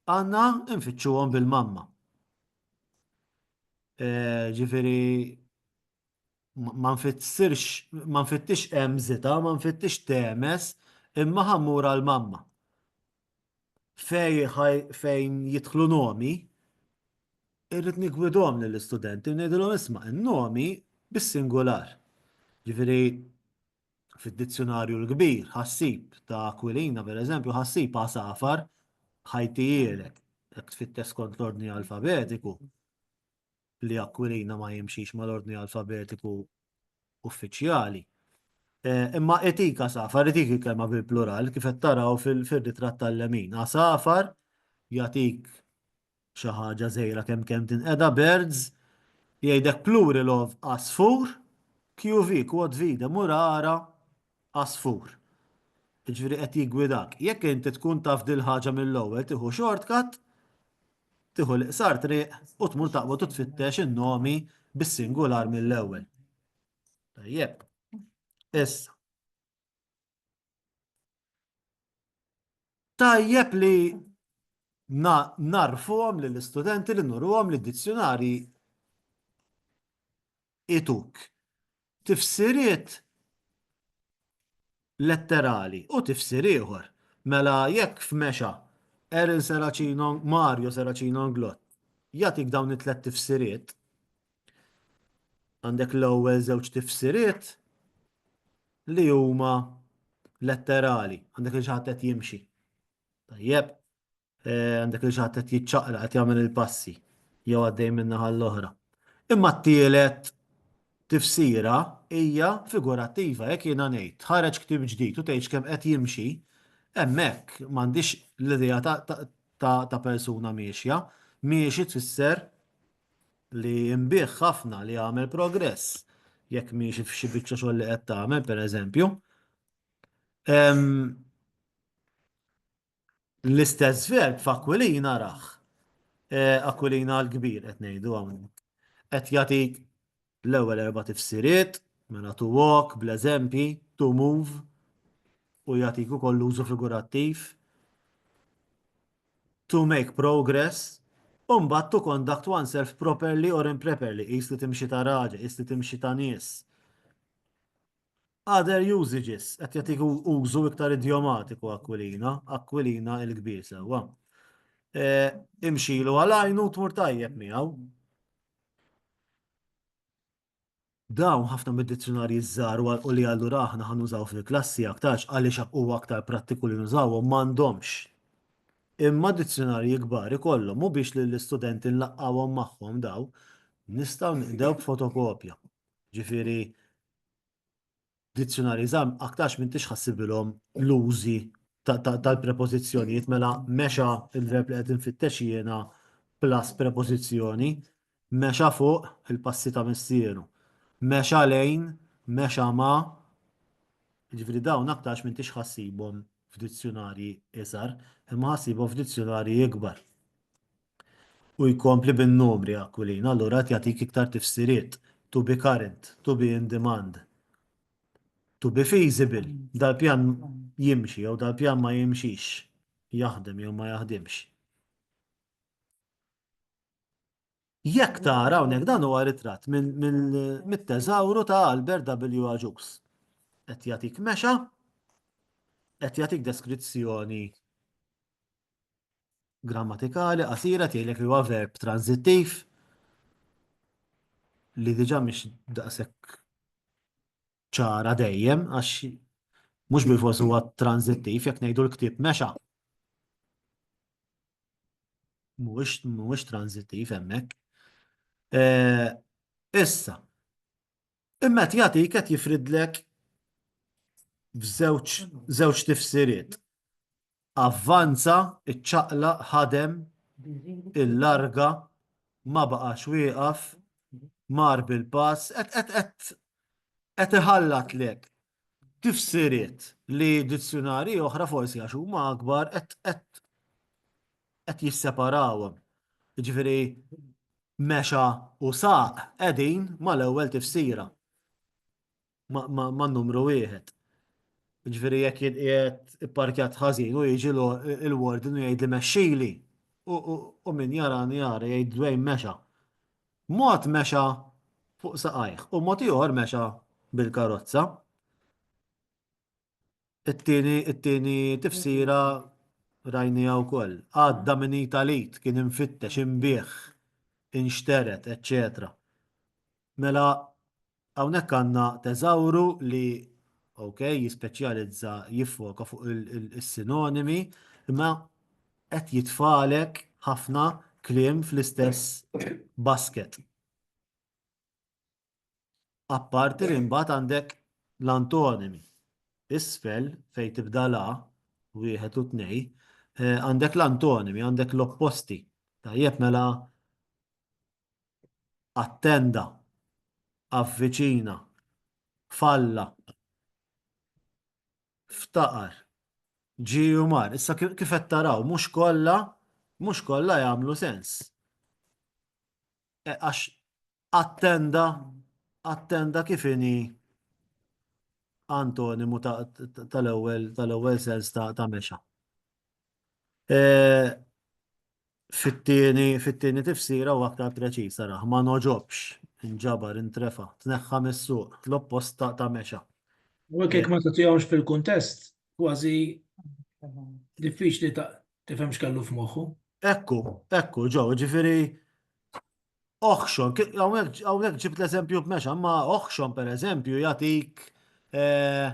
għandna nfittxuhom bil-mamma. Jiġifieri ma nfittsirx, ma nfittix emżita, ma nfittix temes, imma ħammur għal mamma. Fej, fejn jidħlu nomi, irrid nigwidhom lill-istudenti u ngħidilhom isma' n-nomi bis-singular. Ġifieri fid-dizzjonarju l-kbir ħassib ta' Aquilina pereżempju ħassib għasafar ħajtijielek jekk tfittex skont l-ordni alfabetiku. li Aquilina ma jimxix mal-ordni alfabetiku uffiċjali. Imma etika safar, etika kelma bil-plural, kif qed taraw fil-ritratt tal-lemin. Asafar jagħtik xi ħaġa żejra kemm kemm tinqeda birds, jgħidek plural of asfur, QV, quod vide, murara, għasfur. Jiġifieri qed jiggwidak. Jekk inti tkun taf dil-ħaġa mill-ewwel tieħu shortcut, tieħu l-iqsar triq u tmur taqbad u tfittex in-nomi bis-singular mill-ewwel. Tajjeb. Issa. Tajjeb li narfuhom lill-istudenti li nurruhom li d-dizzjunarji ituk, tifsiriet letterali u tifsir ieħor. Mela jekk f'Mexa, Eril Seracino, Mario Seracino Nglott jagħtik dawn it-tliet tifsiriet, għandek l-ewwel żewġ tifsiriet li huma letterali, għandek li xi ħadd qed jimxi. Tajjeb, eh, għandek li xaħat qed jiċċaqla qed jagħmel il-passi jew għaddej minna għall-oħra. Imma t-tielet tifsira hija figurattiva jekk jiena ngħid ħareġ ktib ġdid u tgħidx kemm qed jimxi, hemmhekk m'għandix l-idea ta' persuna miexja, miexi tfisser li imbieħ ħafna li għamel progress jekk miexi f'xi biċċa xogħol li qed tagħmel pereżempju. L-istess verb f'Akwilina raħ. Eh, Akwilina l-kbir qed ngħidu hawnhekk. Qed jagħtik l-ewwel erba' tifsiriet, mela to walk, bl-eżempji, to move, u jagħtik ukoll l-użu figurattiv, to make progress, u mbagħad to conduct oneself properly or improperly, qis li timxi ta' raġel, qis li timxi ta' nies. Other usages, qed jagħtik użu iktar idjomatiku Aquilina, Aquilina il-kbir sewwa. Imxilu għal għajnu tmur tajjeb miegħu. Dawn ħafna mid-dizzjunarji żgħar u li allura aħna ħa nużaw fil-klassi aktarx għaliex huwa aktar prattiku li nużawhom m'għandhomx. Imma dizzjunarji kbar ikollhom u biex lill-istudenti nlaqqgħuhom magħhom dawn nistgħu nqdew b'fotokopja. Ġifieri Dizzjunarji żgħar aktarx m'intix ħassibilhom l-użi tal-prepożizzjonijiet mela mexa il-verb li qed infittex jiena plus prepożizzjoni mexa fuq il-passi ta' missieru. Mexa lejn, mexa ma' Ġifri dawn aktarx m'intix ħassibhom f'dizzjunarji iżgħar, imma ħassibhom f'dizzjunarji ikbar. U jkompli bin-numri Aquilina allura qed jagħtik iktar tifsiriet, to be current, to be in demand, to be feasible, dal-pjan jimxi jew dal-pjan ma jimxix, jaħdem jew ma jaħdimx. Jekk tara hawnhekk dan huwa ritratt mit-teżawru ta' Albert W. Agius. Qed jagħtik mexa, qed jagħtik deskrizzjoni grammatikali qasira tgħidlek li huwa verb tranzittiv li diġà mhix daqshekk ċara dejjem għax mhux bil-fors huwa tranzittiv jekk ngħidu l-ktieb mexa. Mhux mhux tranzittiv hemmhekk. Eh, issa, Imma qed jagħtik qed jifridlek f'żewġ żewġ tifsiriet. Avvanza, iċċaqlaq, ħadem, illarga, ma baqax wieqaf, mar bil-pass, qed qed qed qed iħallatlek Tifsiriet li dizzjunarji oħra forsi għax huma akbar qed qed qed jisseparawhom. Jiġifieri mexa u saq qegħdin mal-ewwel tifsira. Ma ma man-numru wieħed. Jiġifieri jekk jien qiegħed ipparkjat ħażin u jiġi l-warden u jgħidli mexxili u u u min jarani jara jgħid Dwayne mexa. Mod mexa fuq saqajh u mod ieħor mexa bil-karozza. It-tieni it-tieni tifsira rajniha wkoll. Għadda minn id għal id, kien imfittex, imbigħ, inxteret, eċċetera. Mela Hawnhekk għandna teżawru li ok, jispeċjalizza jiffoka fuq is-sinonimi, imma qed jitfalek ħafna kliem fl-istess basket. Apparti li mbagħad għandek l-antonimi. Isfel fejn tibda la wieħed u tnej, eh, għandek l-antonimi, għandek l-opposti. Tajjeb mela attenda, avviċina, falla, ftaqar, ġie u mar. Issa kif qed taraw mhux kollha mhux kollha jagħmlu sens. E, għax attenda attenda kif inhi antonimu tal-ewwel tal-ewwel sens ta' mexa. E, Fit-tieni tifsira u aktar preċiż, ara, ma ngħoġobx, inġabar, intrefa', tneħħa mis-suq, l-oppost ta' ta' mexa. U hekk jekk ma tagħtihomx fil-kuntest, kważi diffiċli tifhem x'kellu f'moħħu. Hekk hu, hekk hu, Joe, jiġifieri Oħxon, għawnek ġib l-eżempju b'mexa, ma oħxon per eżempju jatik eh,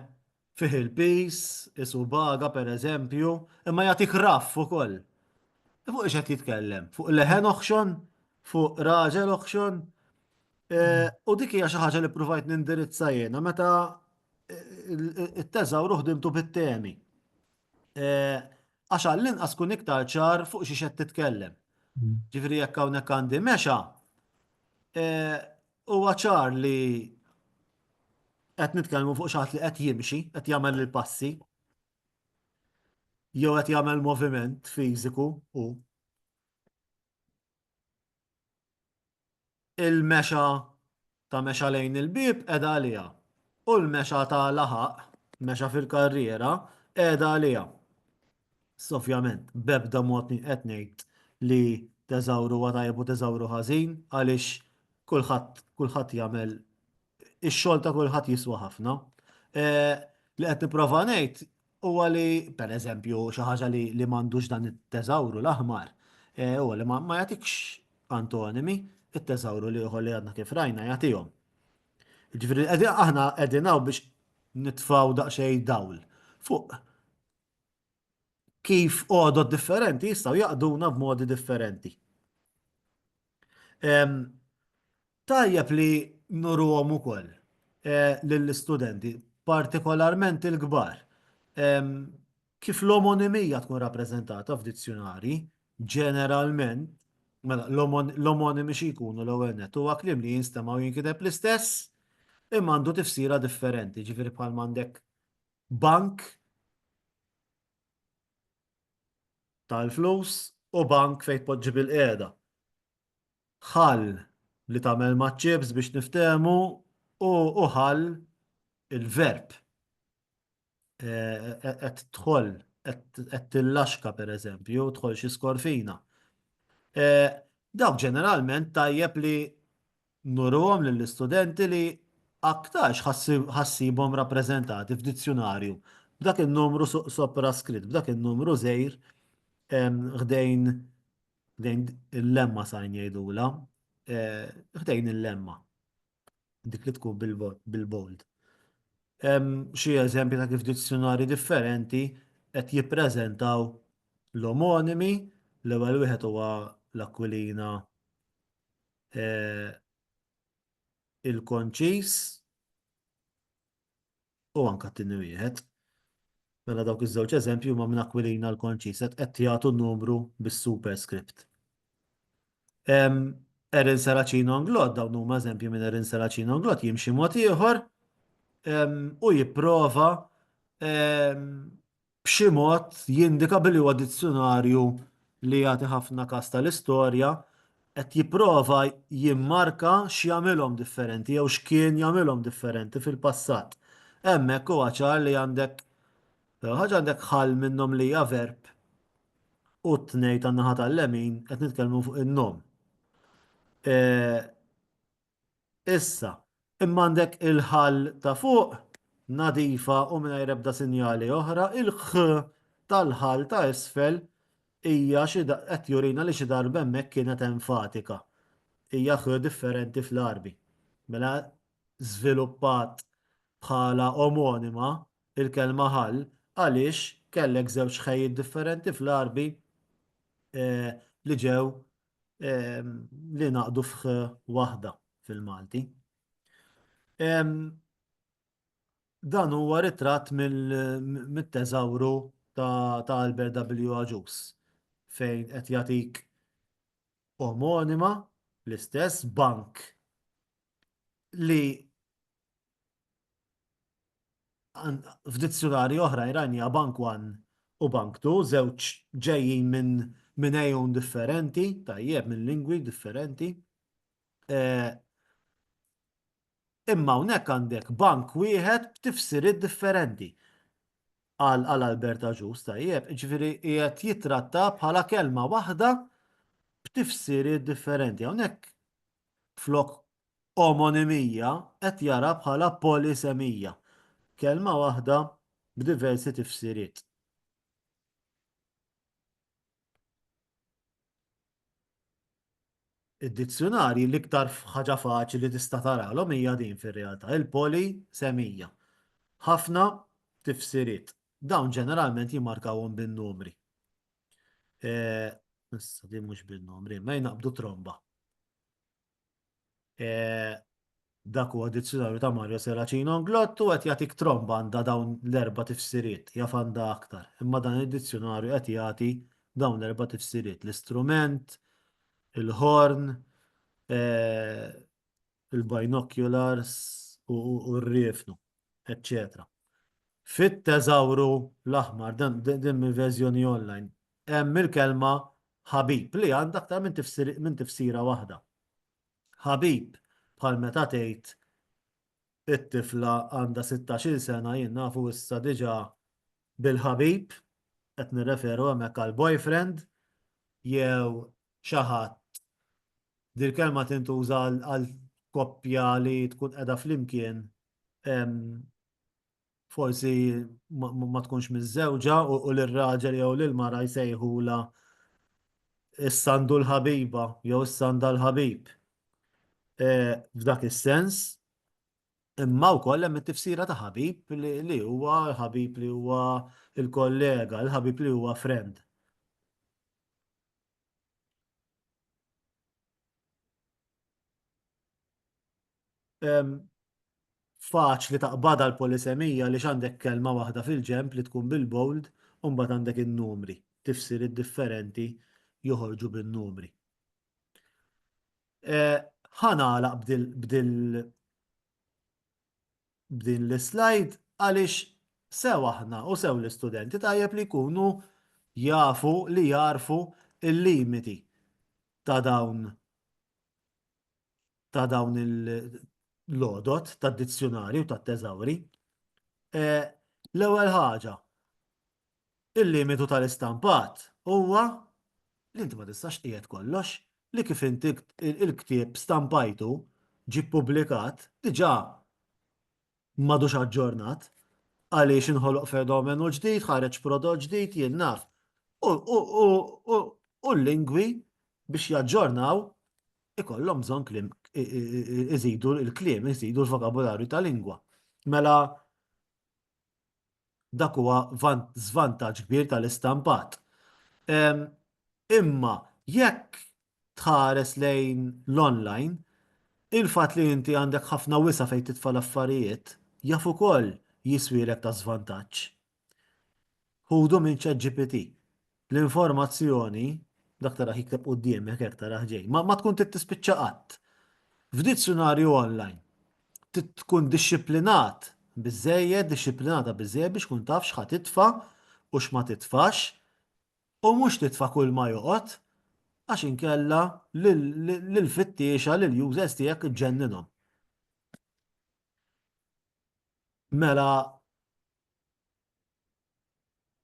fih il-pis, isu baga per eżempju, imma jatik raff u koll. E fuq iċet jitkellem, fuq leħen oħxon, fuq raġel oħxon, eh, u dik hija xi ħaġa li provajt nindirizza jena meta eh, it-teżawru ħdimtu bit-temi. Għax għall-inqas kun iktar ċar fuq xiex qed titkellem. Ġifieri jekk hawnhekk għandi mexa, huwa ċar li qed nitkellmu fuq xi ħadd li qed jimxi, qed jagħmel il-passi, jew qed jagħmel moviment fiżiku u il-mexa ta' mexa lejn il-bieb qiegħda għaliha u l-mexa ta' laħaq, mexa fil-karriera, qiegħda għaliha. Issa ovvjament b'ebda mod minn qed ngħid li teżawru huwa tajjeb u teżawru ħażin għaliex kulħadd kulħadd jagħmel ix-xogħol ta' kulħadd jiswa ħafna. Eh, li qed nipprova ngħid huwa li pereżempju xi ħaġa li li m'għandux dan it-teżawru l-aħmar eh, huwa li ma jagħtikx antonimi it-teżawru li ieħor li għadna kif rajna jagħtihom. Ġifieri aħna qegħdin hawn biex nitfaw daqsxejn dawl fuq kif għodod differenti jistgħu jaqduna b'modi differenti. Tajjeb li nuruhom ukoll lill-istudenti, partikolarment il-kbar, kif l-omonimija tkun rappreżentata f'dizzjunarji, ġeneralment, mela l-omonimi xi jkunu l-ewwel nett? Huwa kliem li jinstema' u jinkiteb l-istess imma għandu tifsira differenti, jiġifieri bħal m'għandek bank, tal-flus u bank fejn tpoġġi bilqiegħda. Ħall li tagħmel maċ-ċips biex niftehmu u u ħall il-verb. Qed tħoll, qed tillaxka pereżempju, tħoll xi skorfina. Dawk ġeneralment tajjeb li Nuruhom lill-istudenti li aktarx ħa ssibhom rappreżentati f'dizzjunarju b'dak in-numru sopraskritt, b'dak in-numru żgħir ħdejn il-lemma sign jgħidulha, ħdejn il-lemma, dik li tkun bil-bold. Hemm xi eżempji ta' kif dizzjunarji differenti qed jippreżentaw l-omonimi, l-ewwel wieħed huwa l-Aquilina il-konċis u anka t-tini wieħed. Mela dawk iż-żewġ eżempju ma minn akwilina l-konċis qed jagħtu numru bis-superscript. Erin Seracino Anglot, dawn huma eżempju minn Erin Seracino Anglot jimxi mod ieħor u jipprova b'xi mod jindika billi huwa dizzjunarju li jagħti ħafna każ tal-istorja, qed jipprova jimmarka x'jagħmilhom differenti jew x'kien jagħmilhom differenti fil-passat. Hemmhekk huwa ċar li għandek l-ewwel ħaġa għandek ħall minnhom li hija verb u t-tnejn tan-naħa tal-lemin qed nitkellmu fuq in-nom. Issa, imma għandek il-ħall ta' fuq, nadifa u mingħajr ebda sinjali oħra, il-ħ tal-ħall ta' isfel hija xi qed jurina li xi darba hemmhekk kienet enfatika. Hija ħ differenti fl-Għarbi. Mela żviluppat bħala omonima il-kelma ħall għaliex kellek żewġ ħejjiet differenti fl-Għarbi li ġew li ngħaqdu f'ħ waħda fil-Malti. Dan huwa ritratt mit-teżawru ta' Albert W. Agius fejn qed jagħtik omonima l-istess bank li F'dizzjunarji oħra Iran hija Bank One u Bank Two, żewġ ġejjin minn minn għejun differenti, tajjeb, minn lingwi differenti. Imma hawnhekk għandek bank wieħed b'tifsiriet differenti. Qal qal Albert Agius, tajjeb, jiġifieri qiegħed jittratta bħala kelma waħda b'tifsiriet differenti. Hawnhekk flok omonimija qed jara bħala polisemija, kelma waħda b'diversi tifsiriet. Id-dizzjunarji l-iktar ħaġa faċli tista' taralhom hija din fir-realtà, il-polisemija. Ħafna tifsiriet. Dawn ġeneralment jimmarkawhom bin-numri. Issa din mhux bin-numri, ma jnaqqbdu tromba. Dak huwa dizzjunarju ta' Mario Serracino Anglott u qed jagħtik tromba għandha dawn l-erba' tifsiriet, jaf għandha aktar. Imma dan id-dizzjunarju qed jagħti dawn l-erba' tifsiriet, l-istrument, il-ħorn, il-binoculars u r-riefnu. eċċetera. Fit-teżawru l-aħmar, din mill-verżjoni online, hemm il-kelma ħabib li għandha aktar minn tifsira waħda. Ħabib bħal meta tgħid it-tifla għandha 16-il sena jien nafu issa diġà bil-ħabib, qed nirreferu hemmhekk għal boyfriend jew xi ħadd. Dil-kelma tintuża għal koppja li tkun qiegħda flimkien forsi ma tkunx miżżewġa u li r-raġel jew lil mara jsejħula s-sandu l-ħabiba jew s-sanda l-ħabib. F'dak is-sens, imma wkoll hemm it-tifsira ta' ħabib li huwa ħabib li huwa l-kollega, l-ħabib li huwa friend. faċli taqbadha l-polisemija għaliex għandek kelma waħda fil-ġenb li tkun bil-bold u mbagħad għandek in-numri, tifsiriet differenti joħorġu bin-numri. Ħa nagħlaq b'din l-slide għaliex sew aħna u sew l-istudenti tajjeb li jkunu jafu li jagħrfu l-limiti ta' dawn ta' dawn il-lodot ta' dizzjonarju ta' teżawri. Eh, l-ewwel ħaġa, il-limitu tal-istampat huwa li inti ma tistax qiegħed kollox li kif inti il-ktieb stampajtu ġi publikat diġà m'għadux aġġornat għaliex inħoloq fenomenu ġdid, ħareġ prodott ġdid, jien naf. U l-lingwi biex jaġġornaw ikollhom bżonn kliem iżidu l-kliem, iżidu l-vokabularju ta' lingwa. Mela Dak huwa żvantaġġ kbir tal-istampat. Imma jekk tħares lejn l-online, il-fatt li inti għandek ħafna wisa' fejn titfa' l-affarijiet jaf ukoll jiswielek ta' żvantaġġ. Ħudu minn ChatGPT. L-informazzjoni, dak taraħ jikteb quddiemek hekk taraħ ġej, ma tkun trid tispiċċa qatt. F'dizzjunarju online, trid tkun dixxiplinat biżżejjed, dixxiplinata biżżejjed biex tkun taf x'ħa titfa' u x'ma titfax u mhux titfa' kull ma joqgħod għax inkella lill-fittiexa, lill-users tiegħek iġġenninhom. Mela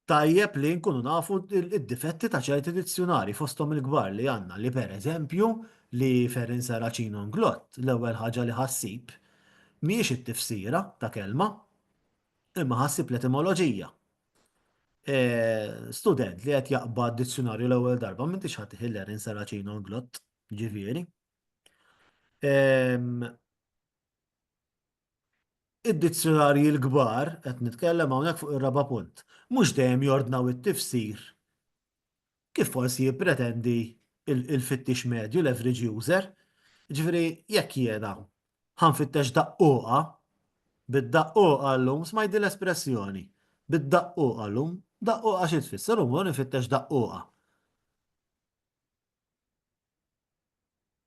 tajjeb li nkunu nafu id-difetti ta' ċerti dizzjunari fosthom il-kbar li għandna li pereżempju li Ferrin Saracino Nglott l-ewwel ħaġa li ħassib mhijiex it-tifsira ta' kelma imma ħassib l-etimoloġija. E, student li qed jaqbad dizzjunarju l-ewwel darba m'intix ħadd Hillerin Saracino Nglott, ġifieri. Id-dizzjunarji l-kbar, qed nitkellem hawnhekk fuq ir-raba' punt, mhux dejjem jordnaw it-tifsir kif forsi jippretendi l-fittix medju, l-average user. Jiġifieri, jekk jiena ħa nfittex daqqugħa, bid-daqqugħa llum, smajt din l-espressjoni, bid-daqqugħa llum, daqqugħa xi tfisser? Llum hu nifittex daqqugħa.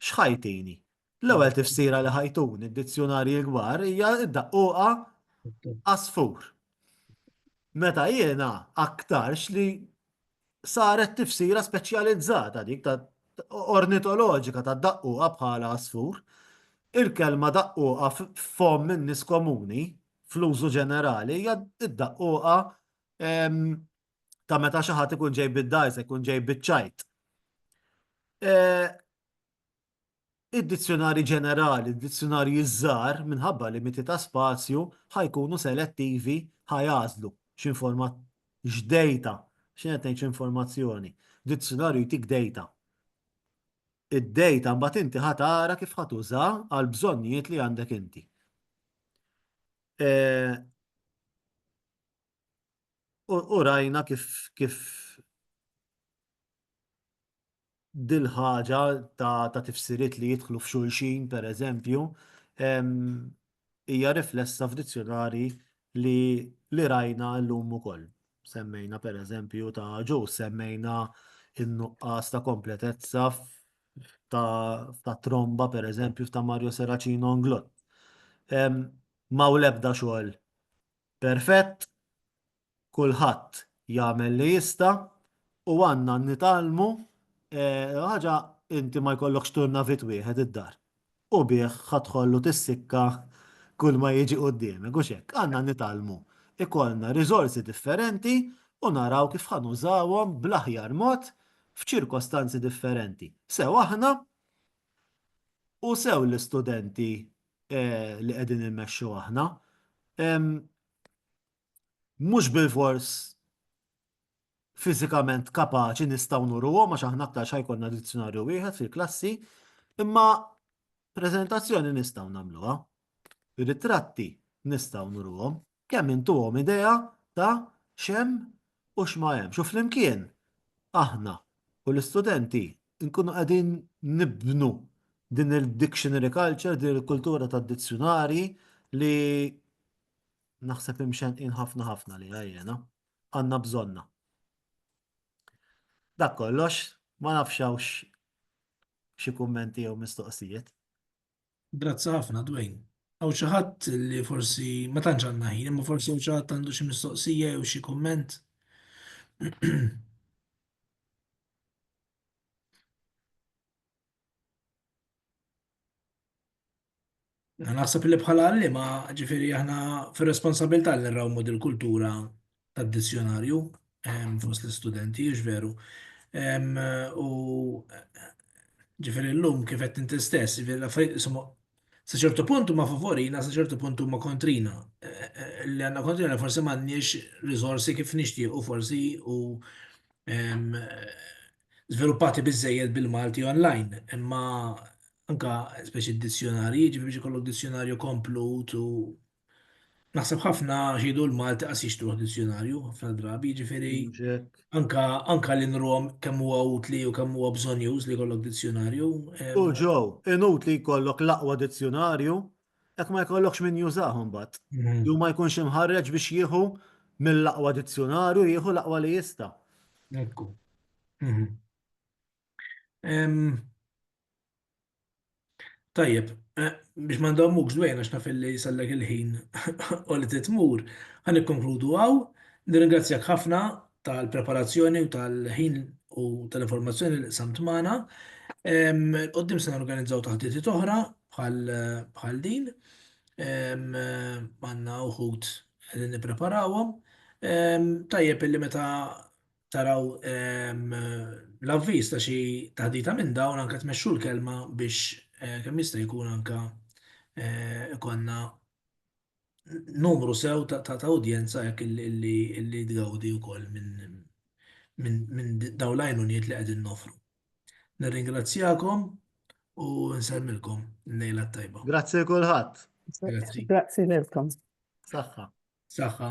X'ħajtini? L-ewwel tifsira li ħajtun id-dizzjunarji l-kbar hija d-daqquqa għasfur. Meta jiena aktarx li saret tifsira speċjalizzata dik ta' ornitoloġika ta' daqquqa bħala għasfur, il-kelma daqquqa f'fomm in-nies komuni fl-użu ġenerali hija d-daqquqa ta' meta xi ħadd ikun ġej bid-dgħajsa, ikun ġej biċ-ċajt. Id-dizzjonarji ġenerali, id-dizzjonarji żgħar, minħabba limiti ta' spazju, ħajkunu selettivi ħajgħażlu x'informat x'dejta, x'in qed ngħid x'informazzjoni. Dizzjonarju jtik dejta. Id-dejta mbagħad inti ħa tara kif ħa tuża għal bżonnijiet li għandek inti. u rajna kif kif dil-ħaġa ta', ta tifsiriet li jidħlu f'xulxin, per eżempju, hija riflessa f'dizzjonari li, li rajna llum ukoll. Semmejna per eżempju ta' ġu, semmejna in-nuqqas ta' kompletezza ta', ta tromba per eżempju ta' Mario Seracino Nglot. Ma' u lebda xogħol Perfett, kulħadd jagħmel li jista' u għandna nitgħallmu ħaġa inti ma jkollokx turnavit wieħed id-dar u bih ħa tħollu tissikka kull ma jiġi quddiemek, hux hekk? Għandna nitgħallmu ikollna riżorsi differenti u naraw kif ħa nużawhom bl-aħjar mod f'ċirkostanzi differenti. Sew aħna u sew l-istudenti li qegħdin immexxu aħna, mhux bilfors fiżikament kapaċi nistgħu nuruhom għax aħna aktar xi jkollna dizzjonarju wieħed fil-klassi, imma preżentazzjoni nistgħu nagħmluha, ritratti nistgħu nuruhom. Kemm intuhom idea ta' x'hemm u x'ma hemmx u flimkien aħna u l-istudenti nkunu qegħdin nibnu din il-dictionary culture, din il-kultura tad-dizzjunarji li naħseb imxenqin ħafna ħafna għaliha jiena. Għandna bżonnha. Dak kollox, ma nafx hawnx xi kummenti jew mistoqsijiet. Grazzi ħafna, Dwayne. Għaw xi ħadd li forsi ma tantx għandna ħin, imma forsi hawn xi ħadd għandu xi mistoqsija jew xi kumment. Naħseb li bħala għalliema ġifieri aħna fir-responsabilità li nrawmu dil-kultura tad-dizzjonarju fost l-istudenti, hux veru? U ġifieri llum kif qed inti stess, ġifieri l-affarijiet isimhom sa ċertu punt huma favorina, sa ċertu punt huma kontrina. Li għandna kontrina forsi m'għandniex riżorsi kif nixtiequ forsi u żviluppati biżżejjed bil-Malti online. Imma anke speċi d-dizzjonarji, ġifieri biex ikollok dizzjonarju komplut u Naħseb ħafna xidu l-Malti qas jixtruħ dizzjonarju ħafna drabi, jiġifieri anka anka li nrom kemm huwa utli u kemm huwa bżonjuż li jkollok dizzjonarju. U ġew, inutli jkollok l-aqwa dizzjonarju jekk ma jkollokx min jużah imbagħad. Mhm. Jew ma jkunx imħarreġ biex jieħu mill-aqwa dizzjonarju jieħu l-aqwa li jista'. Ekku. Mhm. Tajjeb, biex ma ndommukx dwejn għax naf li jsallek il-ħin u li trid tmur, ħa nikkonkludu hawn. Nirringrazzjak ħafna tal-preparazzjoni u tal-ħin u tal-informazzjoni li qsamt magħna. Il-qudiem se norganizzaw taħditiet oħra bħal din. Għandna uħud li nippreparawhom. Tajjeb illi meta taraw l-avviż ta' xi taħdita minn dawn anke tmexxu l-kelma biex kemm jista' jkun anke ikonna numru sew ta' udjenza hekk li tgawdi wkoll minn dawn l-għajnuniet li qegħdin noffru. Nirringrazzjakom u nsemmilkom l-lejla t-tajba. Grazzi lil kulħadd. Grazzi. Grazzi lilkom. Saħħa. Saħħa.